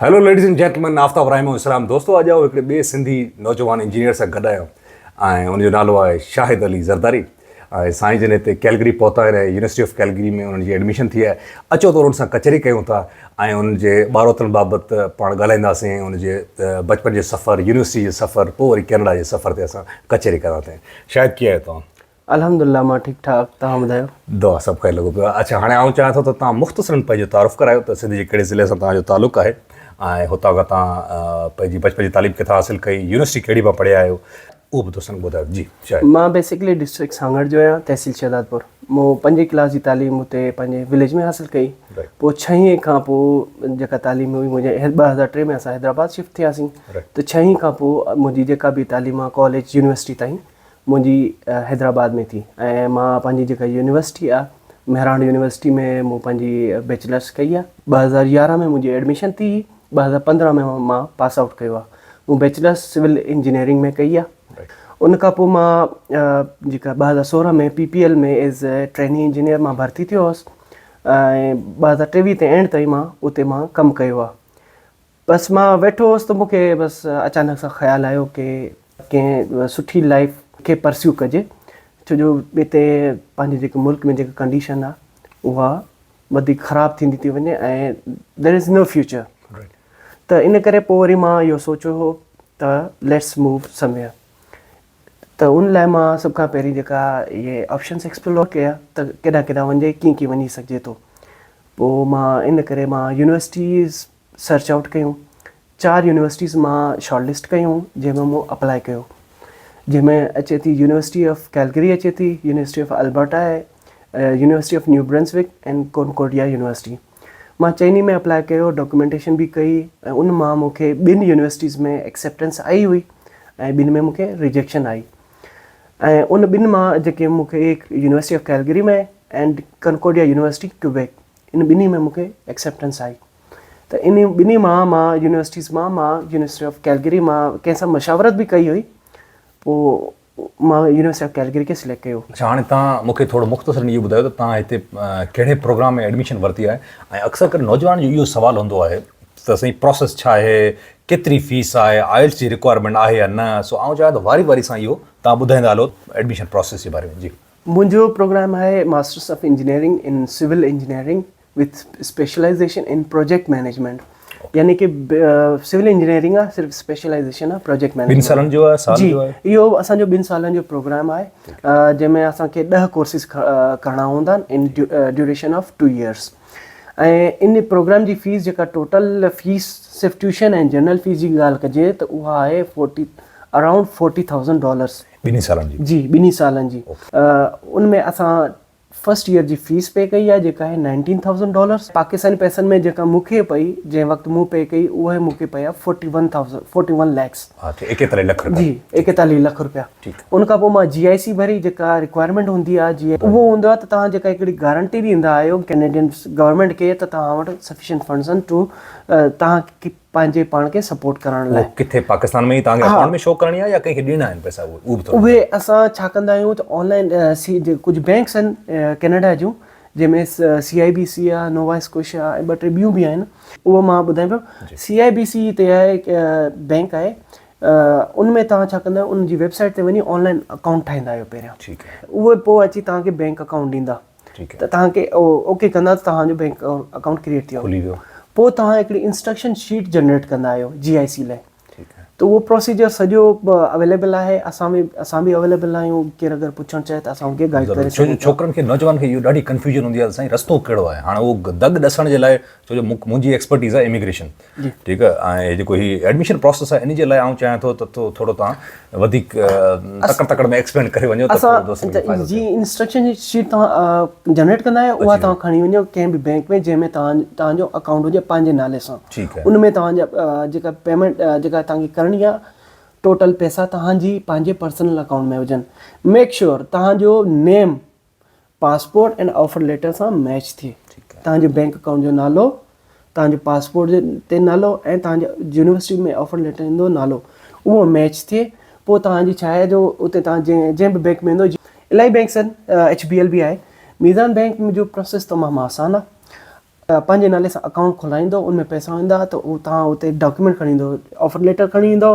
Hello ladies and gentlemen Aftab Rahim اسلام دوستو اڄ آئون هڪڙي ٻئي سنڌي نوجوان انجنيئر سان گڏ آهيان ۽ ان جو نالو آهي شاهد علي زرداري ۽ سائين جن هتي ڪيلگري پهتا آهن ۽ يونيورسٽي آف ڪيلگري ۾ انهن جي ايڊميشن ٿي آهي اچو ته انهن سان ڪچهري ڪيون ٿا ۽ انهن جي ٻاروتن بابت پاڻ ڳالهائينداسين ۽ انهن جي بچپن جي سفر يونيورسٽي جي سفر پوء وري ڪينيڊا جي سفر تي اسان ڪچهري ڪندا ٿين شاهد ڪيئن آهيو توهان الحمد الله مان ٺيڪ ٺاڪ توهان ٻڌايو. دعا سڀ کان لڳو پيو آهي. اڇا هاڻي آئون چاهيان ٿو ته توهان مختصرن پنهنجو تعارف ڪرايو ته سنڌ جي ڪهڙي ضلعي سان توهان جو تعلق آهي ۽ هتان کان توهان پنهنجي بچپن جي تعليم ڪٿان حاصل ڪئي يونيورسٽي کهڙي مان پڙهيا آهيو اهو به دوستن کي ٻڌايو جي شايد. مان بيسيڪلي ڊسٽرڪٽ سانگهڙ جو آهيان تحصيل شهدادپور مون پنجين ڪلاس جي تعليم اتي پنهنجي وليج ۾ حاصل ڪئي پوء ڇهين کان پوء جيڪا تعليم هئي منهنجي ٻه هزار ٽي ۾ اسان حيدرآباد شفٽ ٿياسين ته ڇهين کان پوء منهنجي جيڪا به تعليم آهي ڪاليج يونيورسٽي تائين منهنجي حيدرآباد ۾ ٿي ۽ مان پنهنجي جيڪا يونيورسٽي آهي مهراڻ يونيورسٽي ۾ مون پنهنجي بيچلرس ڪئي آهي ٻه هزار يارهن ۾ منهنجي ايڊميشن ٿي هئي ٻه هزار پندرهن ۾ مان پاس آئوٽ ڪيو آهي مون بيچلرس سول انجنيئرنگ ۾ ڪئي آهي ان کان پوء مان جيڪا ٻه هزار سورهن ۾ P P L ۾ as a training engineer مان ڀرتي ٿيو هوس ۽ ٻه هزار ٽيويهه تي اينڊ تائين مان اتي مان ڪم ڪيو آهي بس مان ويٺو هوس ته مونکي بس اچانڪ سان خيال آيو ڪي ڪنهن سٺي لائيف کي پرسيو ڪجي ڇو جو هتي پنهنجي جيڪي ملڪ ۾ جيڪي ڪنڊيشن آ اها وڌيڪ خراب ٿيندي ٿي وڃي ۽ دير از نو فيوچر ته ان ڪري پوء وري مان اهو سوچيو هو ته ليٽس موو سمويئر ته ان لاء مان سڀ کان پهرين جيڪا اهي آپشنس ايڪسپلور ڪيا ته ڪيڏانهن ڪيڏانهن وڃجي ڪيئن ڪيئن وڃي سگهجي ٿو پوء مان ان ڪري مان يونيورسٽيز سرچ آئوٽ ڪيون، چار يونيورسٽيز مان شارٽ لسٽ ڪيون جنهن ۾ مون اپلائي ڪيو جنهن ۾ اچي ٿي يونيورسٽي آف ڪيلگري اچي ٿي، university of Alberta, university of New Brunswick ۽ Concordia university. مان چئني ۾ اپلائي ڪيو، ڊاڪيومينٽيشن به ڪئي ۽ ان مان مون کي ٻن يونيورسٽيز ۾ ايڪسيپٽنس آئي هئي ۽ ٻن ۾ مون کي ريجيڪشن آئي ۽ ان ٻن مان جيڪي مون کي university of Calgary ۾ ۽ Concordia university Quebec ان ٻنهي ۾ مون کي ايڪسيپٽنس آئي ته ان ٻنهي مان مان يونيورسٽيز مان مان يونيورسٽي آف ڪيلگري مان ڪنهن سان مشاورت به ڪئي هئي پوء مان يونيورسٽي آف ڪيلگري کي سليڪٽ ڪيو. اڇا هاڻي تان مون کي ٿورو مختصرن اهو ٻڌايو ته تان هتي ڪهڙي پروگرام ۾ ايڊميشن ورتي آهي ۽ اڪثر ڪري نوجوانن جو اهو سوال هوندو آهي ته سائين پروسيس ڇا آهي ڪيتري فيس آهي آئلٽس جي رڪوائرمينٽ آهي يا نه سو آئون چاهيان ته واري واري سان اهو تان ٻڌائيندا هلو ايڊميشن پروسيس جي باري ۾ جي. منهنجو پروگرام آهي masters of engineering in civil engineering with specialization in project management يعني ڪي سول انجنيئرنگ آهي صرف اسپيشلائيزيشن آهي پروجيڪٽ مينيجمينٽ ٻن سالن جو آهي سال جي جو آهي اهو اسان جو ٻن سالن جو پروگرام آهي جنهن ۾ اسان کي ڏهه ڪورسز ڪرڻا هوندا آهن ان ڊيوريشن آف ٽو ايئرس ۽ ان پروگرام جي فيس جيڪا ٽوٽل فيس صرف ٽيوشن ۽ جنرل فيس جي ڳالهه ڪجي ته اها آهي forty around forty thousand dollars ٻنهي سالن جي؟ جي ٻنهي سالن جي ان ۾ اسان فرسٽ ايئر جي فيس پي ڪئي آهي جيڪا آهي نائنٽين ٿائوزنڊ ڊالرس پاڪستاني پئسن ۾ جيڪا مون کي پئي جنهن وقت مون پي ڪئي اهي مون کي پئي آهي forty one thousand forty one lakhs ايڪيتاليهه لک رپيا جي ايڪيتاليهه لک رپيا ان کان پوء مان جي آئي سي ڀري جيڪا رڪوائرمينٽ هوندي آهي جي اهو هوندو آهي ته توهان جيڪا هڪڙي گارنٽي ڏيندا آهيو ڪينيڊين گورنمينٽ کي ته توهان وٽ سفيشنٽ فنڊز آهن ٽو توهان کي پنهنجي پاڻ کي سپورٽ ڪرڻ لاء. اهو ڪٿي پاڪستان ۾ ئي توهان کي اڪائونٽ ۾ شو ڪرڻي آهي يا ڪنهن کي ڏيڻا آهن پئسا اهي به ٿورو اهي اسان ڇا ڪندا آهيون ته آن لائين ڪجهه بينڪس آهن ڪينيڊا جون جنهن ۾ سي آئي بي سي آهي نووا اسڪوشيا آهي ۽ ٻه ٽي ٻيون به آهن اهو مان ٻڌايان پيو سي آئي بي سي تي آهي بينڪ آهي ان ۾ توهان ڇا ڪندا آهيو ان جي ويب سائيٽ تي وڃي آن لائين اڪائونٽ ٺاهيندا آهيو پهريان اهي پوء اچي توهان کي بينڪ اڪائونٽ ڏيندا ته توهان کي اوڪي ڪندا ته توهان جو بينڪ اڪائونٽ ڪريٽ ٿي ويو پوء توهان هڪڙي انسٽرڪشن شيٽ جنريٽ ڪندا آهيو جي آء سي لاء ته اهو پروسيجر سڄو اويليبل آهي اسان به اسان به اويليبل آهيون ڪير اگر پڇڻ چاهي ته اسان ان کي گائيڊ ڪري سگهون ٿا ڇوڪرن کي نوجوانن کي اهو ڏاڍي ڪنفيوجن هوندي آهي ته سائين رستو ڪهڙو آهي هاڻ اهو دڳ ڏسڻ جي لاء ڇو جو منهنجي ايڪسپرٽيز آهي اميگريشن ٺيڪ آهي ۽ هي جيڪو هي ايڊميشن پروسيس آهي ان جي لاء آئون چاهيان ٿو ته ٿورو توهان وڌيڪ تڪڙ تڪڙ ۾ ايڪسپينڊ ڪري وڃو ته پورو دوستن کي فائدو ٿئي. انسٽرڪشن شيٽ توهان جنريٽ ڪندا آهيو اها توهان کڻي وڃو ڪنهن به بينڪ ۾ جنهن ۾ توهان توهان جو اڪائونٽ هجي پنهنجي نالي سان ان ۾ توهان جا جيڪا پيمنٽ جيڪا توهان کي ڪرڻي آهي ٽوٽل پيسا توهان جي پنهنجي پرسنل اڪائونٽ ۾ هجن ميڪ شيور توهان جو نيم پاسپورٽ ۽ آفر ليٽر سان ميچ ٿئي. توهان جي بئنڪ اڪائونٽ جو نالو، توهان جو پاسپورٽ تي نالو ۽ توهان جي يونيورسٽي ۾ آفر ليٽر ايندو نالو اهو ميچ ٿئي پوء توهان جي ڇا آهي جو اتي توهان جنهن به بئنڪ ۾ ويندو جيئن الاهي بئنڪ سان ايڇ بي ايل به آهي ميزان بئنڪ جو پروسيس تمام آسان آهي پنهنجي نالي سان اڪائونٽ کولائيندو ان ۾ پئسا ويندا ته اهو توهان اتي ڊاڪيومينٽ کڻي ايندو آفر ليٽر کڻي ايندو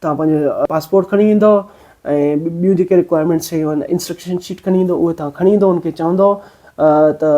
توهان پنهنجو پاسپورٽ کڻي ايندو ۽ ٻيون جيڪي رڪوائرمينٽ شيون آهن انسٽرڪشن شيٽ کڻي ايندو اهي توهان کڻي ايندو ان کي چوندو ته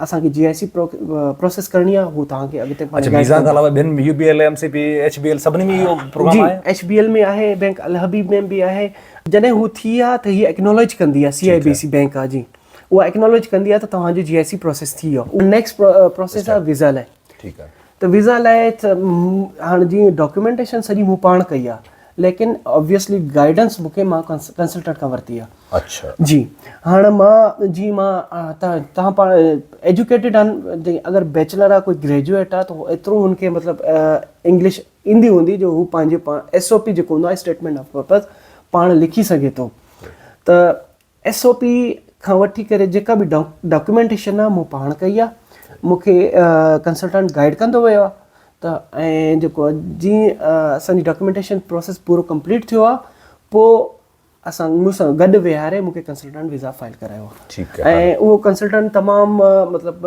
اسانکي جي آء سي پروسيس ڪرڻي آهي هو توهان کي اڳتي اڇا ويزا کان علاوه بن U B L M C B H B L سڀني ۾ اهو پروگرام آهي ايڇ بي ايل ۾ آهي بينڪ الحبيب ۾ به آهي جڏهن هو ٿي ها ته هي ايڪنالج ڪندي آهي سي آء بي سي بينڪ آهي جي اها ايڪنالج ڪندي آهي ته توهان جو جي آء سي پروسيس ٿي ويو اهو نيڪسٽ پروسيس آهي ويزا لاء ٺيڪ آهي ته ويزا لاء هاڻ جي ڊاڪيومينٽيشن سڄي مون پاڻ ڪئي آهي ليڪن اوبويسلي گائيڊنس مون کي مان ڪنسلٽنٽ کان ورتي آهي اچھا جي هاڻ مان جي مان تان تان پاڻ ايجوڪيٽيڊ آهن اگر بيچلر آهي ڪوئي گريجويٽ آهي ته ايترو هن کي مطلب انگلش ايندي هوندي جو هو پنهنجي پاڻ ايس او پي جيڪو هوندو آهي اسٽيٽمينٽ آف پرپز پاڻ لکي سگهي ٿو ته ايس او پي کان وٺي ڪري جيڪا به ڊاڪيومينٽيشن آ مون پاڻ ڪئي آ مون کي ڪنسلٽنٽ گائيڊ ڪندو ويو آ ته ۽ جيڪو جي اسان جي ڊاڪيومينٽيشن پروسيس پورو ڪمپليٽ ٿيو آ پو اسان مون سان گڏ ويهاري مون کي ڪنسلٽنٽ ويزا فائل ڪرايو آ ۽ اهو ڪنسلٽنٽ تمام مطلب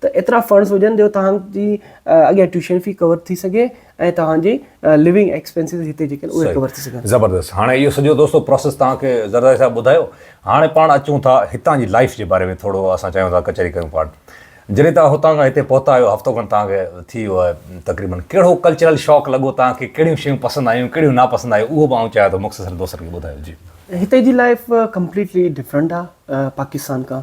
ته ايترا فنڊز هجن جو توهان جي اڳيان ٽيوشن في ڪور ٿي سگهي ۽ توهان جي لوينگ ايڪسپينسز هتي جيڪي آهن اهي ڪور ٿي سگهن. زبردست هاڻي اهو سڄو دوستو پروسيس توهان کي زرداري صاحب ٻڌايو هاڻي پاڻ اچون ٿا هتان جي لائيف جي باري ۾ ٿورو اسان چاهيون ٿا ڪچهري ڪيون پاڻ جڏهن توهان هتان کان هتي پهتا آهيو هفتو کن توهان کي ٿي ويو آهي تقريبن ڪهڙو ڪلچرل شاڪ لڳو توهان کي ڪهڙيون شيون پسند آيون ڪهڙيون ناپسند آيون اهو به آئون چاهيان ٿو مختصر دوستن کي ٻڌايو جي. هتي جي لائيف ڪمپليٽلي ڊفرنٽ آهي پاڪستان کان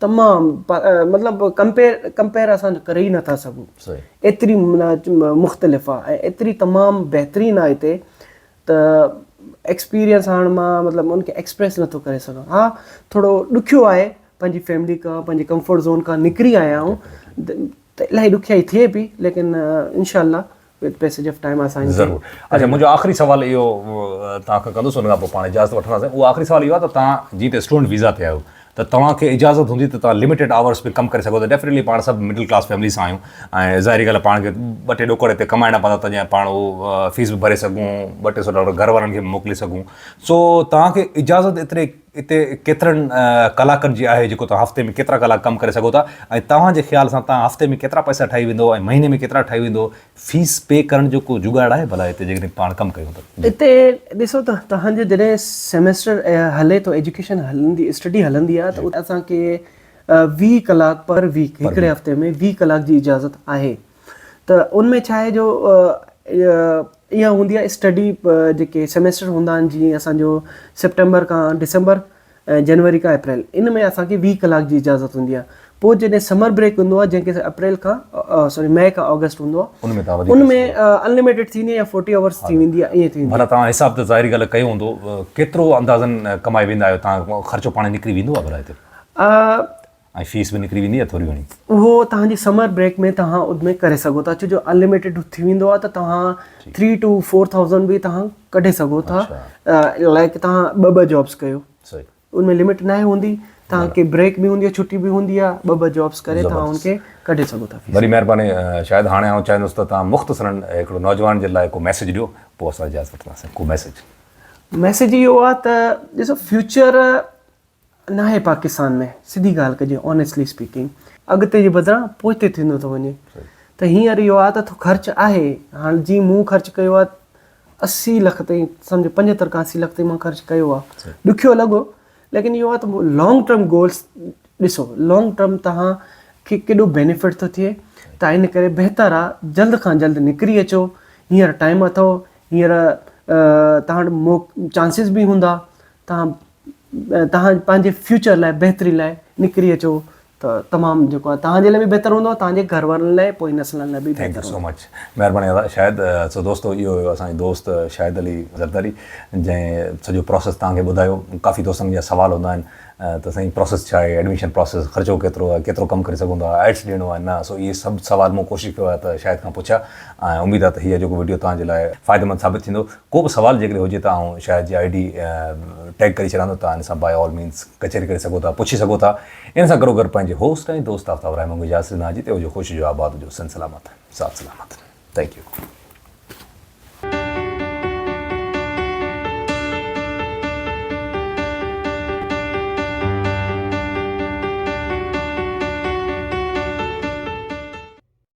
تمام مطلب ڪمپيئر ڪمپيئر اسان جو ڪري ئي نٿا سگهون ايتري مختلف آ ۽ ايتري تمام بهترين آ هتي ته ايڪسپيريئنس هاڻ مان مطلب ان کي ايڪسپريس نٿو ڪري سگهان ها ٿورو ڏکيو آهي پنهنجي فيملي کان پنهنجي ڪمفرٽ زون کان نڪري آيا آهيون ته الاهي ڏکيائي ٿئي پي ليڪن انشاء الله پيسيج آف ٽائيم آسان ٿي ضرور اچھا منهنجو آخري سوال اهو توهان کان ڪندس ان کان پوء پاڻ اجازت وٺنداسين اهو آخري سوال اهو آهي ته توهان جي ته اسٽوڊنٽ ويزا تي آهيو ته توهان کي اجازت هوندي ته توهان لميٽيڊ آورس به ڪم ڪري سگهو ٿا ڊيفينيٽلي پاڻ سڀ مڊل ڪلاس فيملي سان آهيون ۽ ظاهري ڳالهه پاڻ کي ٻه ٽي ڏوڪڙ هتي ڪمائڻا پوندا ته جيئن پاڻ هو فيس به ڀري سگهون ٻه ٽي سو ڊالر گهر وارن کي به موڪلي سگهون سو توهان کي اجازت ايتري اتي ڪيترن ڪلاڪن جي آهي جيڪو توهان هفتي ۾ ڪيترا ڪلاڪ ڪم ڪري سگهو ٿا ۽ توهان جي خيال سان توهان هفتي ۾ ڪيترا پئسا ٺاهي ويندو ۽ مهيني ۾ ڪيترا ٺاهي ويندو فيس پي ڪرڻ جو ڪو جگاڙ آهي ڀلا اتي جيڪڏهن پاڻ ڪم ڪيون ته. اتي ڏسو ته توهان جو جڏهن سيمسٽر هلي ٿو ايجوڪيشن هلندي اسٽڊي هلندي آهي ته اسان کي ويهه ڪلاڪ پر ويڪ هڪڙي هفتي ۾ ويهه ڪلاڪ جي اجازت آهي ته ان ۾ ڇا آهي جو اها هوندي آهي اسٽڊي جيڪي سيميسٽر هوندا آهن جيئن اسانجو سيپٽمبر کان ڊسمبر ۽ جنوري کان اپريل ان ۾ اسانکي ويهه ڪلاڪ جي اجازت هوندي آهي پوء جڏهن سمر بريڪ هوندو آهي جنهن کي اپريل کان سوري مئي کان آگسٽ هوندو آهي ان ۾ انلميٽيڊ ٿيندي آهي يا فورٽي آورس ٿي ويندي آهي ائين ٿي ويندي آهي توهان حساب ته ظاهري ڳالهه ڪيو هوندو ڪيترو اندازن ڪمائي ويندا آهيو توهان خرچو پاڻي نڪري ويندو آهي ڀلا هتي ۽ فيس به نڪري ويندي آهي ٿوري گهڻي. اهو توهان جي سمر بريڪ ۾ توهان اڌ ۾ ڪري سگهو ٿا ڇو جو انلميٽيڊ ٿي ويندو آهي ته توهان ٿري ٽو فور ٿائوزنڊ به توهان ڪڍي سگهو ٿا لائڪ توهان ٻه ٻه جابس ڪيو ان ۾ لمٽ ناهي هوندي توهان کي بريڪ به هوندي آهي ڇٽي به هوندي آهي ٻه ٻه جابس ڪري توهان ان کي ڪڍي سگهو ٿا وڏي مهرباني شايد هاڻي آئون چاهيندس ته توهان مختصرن هڪڙو نوجوان جي لاء ڪو ميسج ڏيو پوء اسان اجازت وٺنداسين ڪو ميسج ميسج اهو آهي ته ڏسو فيوچر ناهي پاڪستان ۾ سڌي ڳالهه ڪجي آنيسٽلي اسپيڪنگ اڳتي جي بدران پوئتي ٿيندو ٿو وڃي ته هينئر اهو آهي ته خرچ آهي هاڻ جي مون خرچ ڪيو آهي اسي لک تائين سمجهو پنجهتر کان اسي لک تائين مان خرچ ڪيو آهي ڏکيو لڳو ليڪن اهو آهي ته لانگ ٽرم گولس ڏسو لانگ ٽرم توهان کي ڪيڏو بينيفٽ ٿو ٿئي ته ان ڪري بهتر آ جلد کان جلد نڪري اچو هينئر ٽائم اٿو هينئر تهان وٽ مو چانسز به هوندا تهان توهان پنهنجي فيوچر لاء بهتري لاء نڪري اچو ته تمام جيڪو آهي توهان جي لاء به بهتر هوندو ۽ توهان جي گهر وارن لاء ۽ پوئين نسلن لاء به بهتر هوندو. ٿينڪ يو سو مچ مهرباني ادا شاهد سو دوستو اهو هيو اسان جو دوست شاهد علي زرداري جنهن سڄو پروسيس توهان کي ٻڌايو ڪافي دوستن جا سوال هوندا آهن ته سائين پروسيس ڇا آهي ايڊميشن پروسيس خرچو ڪيترو آهي ڪيترو ڪم ڪري سگهون ٿا آئلٽس ڏيڻو آهي نه سو اهي سڀ سوال مون ڪوشش ڪيو آهي ته شاهد کان پڇيا ۽ اميد آهي ته هيء جيڪو وڊيو توهان جي لاء فائديمند ثابت ٿيندو ڪو به سوال جيڪڏهن هجي ته آئون شاهد جي آئي ڊي ٽيگ ڪري ڇڏيان ٿو تان ان سان باء آل مينز ڪچهري ڪري سگهو ٿا پڇي سگهو ٿا ان سان گڏو گڏ پنهنجي هوسٽ ۽ دوست آفتاب رحمان کي اجازت ڏنا جي ته هجو خوش هجو آباد هجو سنڌ سلامت سات سلامت ٿينڪ يو.